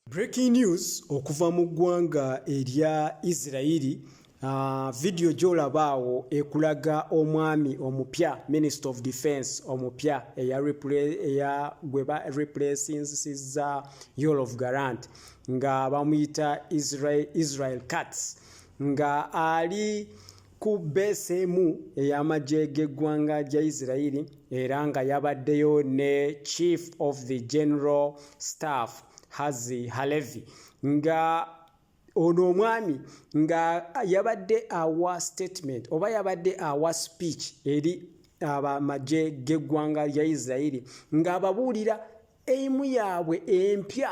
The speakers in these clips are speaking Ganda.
Breaking news okuva mu ggwanga erya Isirayiri ah, vidiyo gy'olaba awo ekulaga omwami omupya minister of defence omupya eya gwe ba replacinsiza yolof garant nga bamuyita Israel Katz nga ali ku beesi emu ey'amagye g'eggwanga gya isirairi era nga yabaddeyo ne chief of the general staff hazi halevi nga ono omwami nga yabadde awa statement oba yabadde awa speech eri abamagye g'eggwanga lya isirairi ng'ababuulira eimu yaabwe empya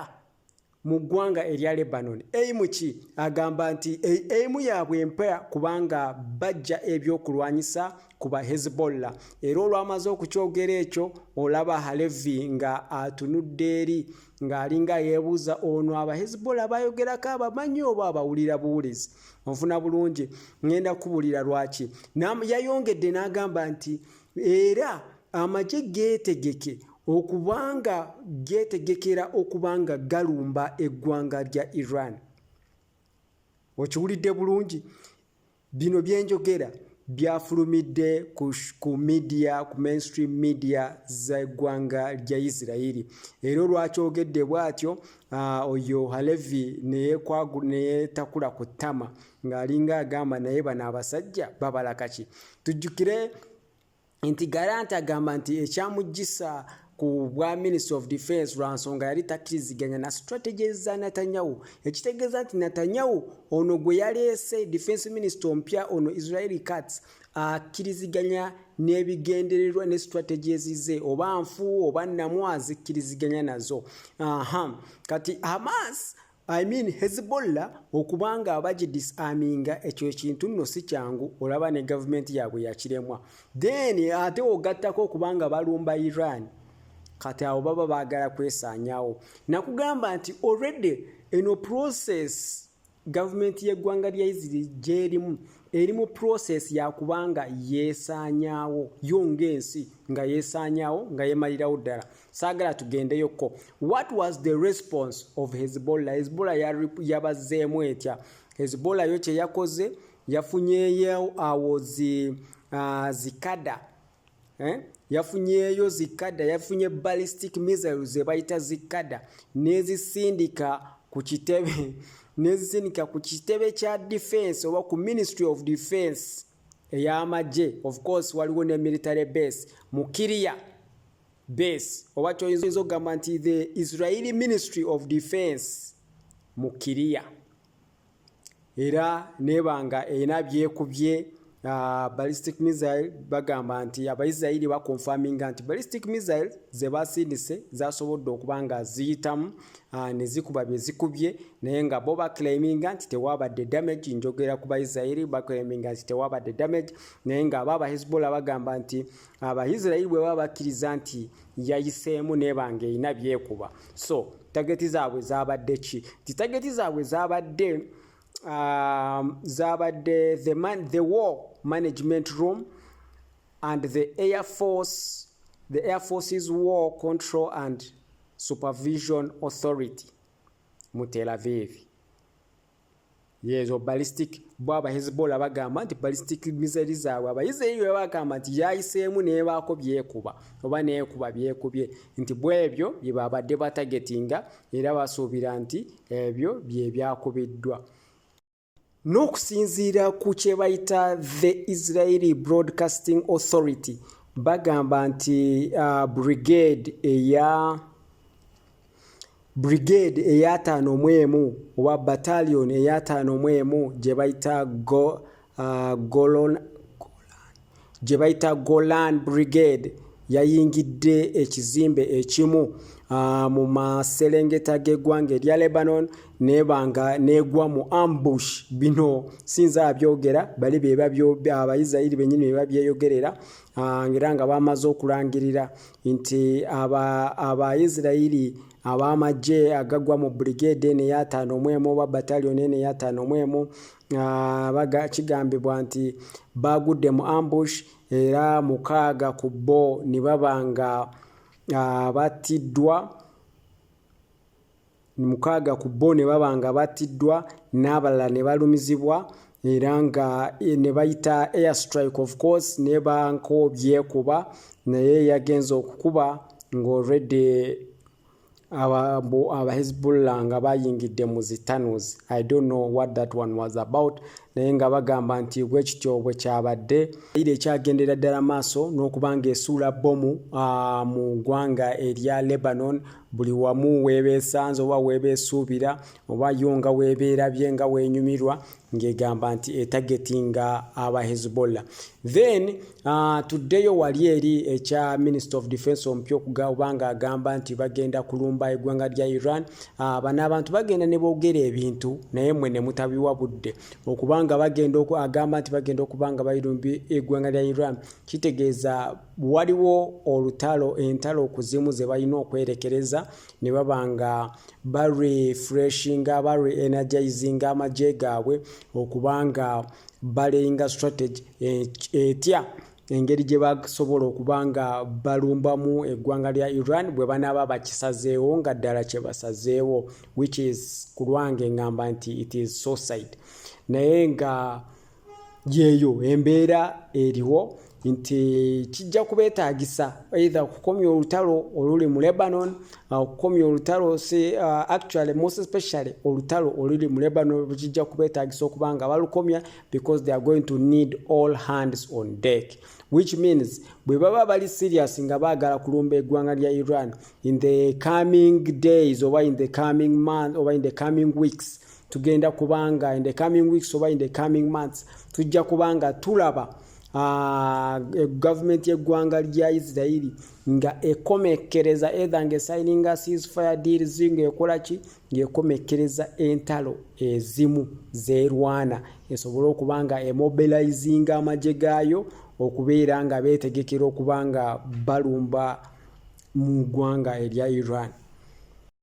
mu ggwanga erya Lebanon. Eimuki agamba nti eimu yaabwe empya kubanga bajja ebyokulwanyisa ku ba Hezbollah era olwamaze okukyogera ekyo olaba Halevi nga atunudde eri ng'alinga yeebuuza ono aba Hezbollah bayogerako abamanyi oba abawulira buwulizi onfuna bulungi ŋŋenda kubulira lwaki yayongedde n'agamba nti era amagye geetegeke okubanga geetegekera okubanga galumba eggwanga lya iran okiwulidde bulungi bino byenjogera byafulumidde ku media ku mainstream media zeggwanga lya isirairi era olwakyogedde bwatyo oyo halevi neyetakula ku ttama ng'alinga agamba naye bano abasajja babala kaki tujjukire nti garanti agamba nti ekyamujjisa ku bwa minister of defense lwa nsonga yali takkiriziganya na strategies za netanyahu ekitegeeza nti netanyahu ono gwe yaleese defense minister ompya ono israeli cats akkiriziganya n'ebigendererwa ne strategies ze oba nfu oba namu azikkiriziganya nazo aha kati hamas I mean Hezbollah okuba nga abagidisaminga ekyo ekintu nno si kyangu olaba ne gavumenti yaabwe yakiremwa then ate ogattako okuba nga balumba Iran kati awo baba baagala kwesaanyawo nakugamba nti already eno process gavumenti y'eggwanga lya isiri gyerimu eri mu process yakubanga yeesaanyaawo yo ng'ensi nga yeesaanyaawo nga yeemalirawo ddala saagala tugendeyokko what was the response of hezbollah hezbollah yabazzeemu etya hezbollah yo kyeyakoze yafunyeyo awo zi, uh, zikada eh? yafunyeyo zikada yafunye ballistic missiles zebayita zikada nezisindika ku kitebe nezisindika ku kitebe kya defense oba ku ministry of defense ey'amagye of course waliwo ne military base mu kiriya base oba kyoyinza okugamba nti the israeli ministry of defense mu kiriya era nebanga erina byekubye uh, ballistic missile bagamba nti abaisirairi baconfaminga nti ballistic missile zebasindise zasobodde okuba nga ziyitamu uh, nezikuba byezikubye naye nga bo baclaiminga nti tewabadde damage njogera ku baisirairi baclaiminga nti tewabadde damage naye nga aba abahezbollah bagamba nti abaisirairi bwe baba bakkiriza nti yayiseemu nebanga erina byekuba so tageti zaabwe zabadde ki nti tageti zaabwe zabadde um, zabadde the, man, the war management room and the air force the air forces war control and supervision authority mu telavivi yezo ballistic bo aba hezbollah bagamba nti ballistic mizeri zaabwe abayisirayiri bwe bagamba nti yayiseemu nebaako byekuba oba neekuba byekubye nti bwebyo bye babadde batagetinga era basuubira nti ebyo bye byakubiddwa n'okusinziira ku kye bayita the israeli broadcasting authority bagamba nti uh, brigade eya brigade eyataano mu emu oba battalion eyataano mu emu gye bayita go, uh, golon gye bayita golan brigade yayingidde ekizimbe ekimu uh, mu maserengeta g'eggwanga erya lebanon nebanga negwa mu ambush bino sinza abyogera bali bebabyaabayisirayiri benyini bebabyeyogerera Ah, era nga bamaze okulangirira nti abaisirairi aba ab'amagye agagwa mu brigade eno eyataano mu emu oba batalioni eno eyataano mu emu ah, kigambibwa nti baagudde mu ambush era mukaaga ku bo ne baba nga ah, battiddwa mukaaga ku bo ne baba nga battiddwa n'abalala ne balumizibwa era nga eh, ne bayita air strike of course ne banko byekuba naye yagenze okukuba ng'already abahezbollah nga bayingidde mu zitanos i don't know what that one was about naye nga bagamba nti bwe kityo bwe kyabadde ira ekyagendera ddala maaso n'okuba ng'esuula bbomu ah, mu ggwanga erya lebanon buli wamu weebeesanze oba weebeesuubira oba yo nga weebeerabye nga weenyumirwa ng'egamba nti etageti nga aba hezbollah then uh, tuddeyo wali eri ekya minister of defense omupya okugaoba nga agamba nti bagenda kulumba eggwanga lya iran uh, bano abantu bagenda ne boogera ebintu naye mwe ne mutabiwa budde okubanga bagenda agamba nti bagenda okuba nga bairumbye eggwanga lya iran kitegeeza waliwo olutalo entalo ku zimu ze balina okwerekereza ne baba nga barefreshinga bareenergizinga amagye gaabwe okuba nga baleyinga strategy etya engeri gye basobola okuba nga balumbamu eggwanga lya iran bwe banaaba bakisazeewo nga ddala kye basazeewo which is ku lwange ngamba nti it is suicide naye nga yeeyo embeera eriwo nti kijja kubetaagisa either okukomya olutalo oluli mu lebanon uh, okukomya olutalo si uh, actually most especially olutalo oluli mu lebanon bwekijja kubetaagisa okuba nga balukomya because they are going to need all hands on deck which means bwe baba bali serious nga baagala kulumba eggwanga lya iran in the coming days oba in the coming month oba in the coming weeks tugenda kubanga in the coming weeks oba in the coming months tujja kubanga tulaba ah, e, gavumenti yeggwanga lya isirairi nga ekomekkereza etha nga esininga ceasefire deals ngaekola ki ngaekomekkereza entalo ezimu zerwana esobole okuba nga emobilizinga amagye gaayo okubeera nga beetegekera okuba nga balumba mu ggwanga erya iran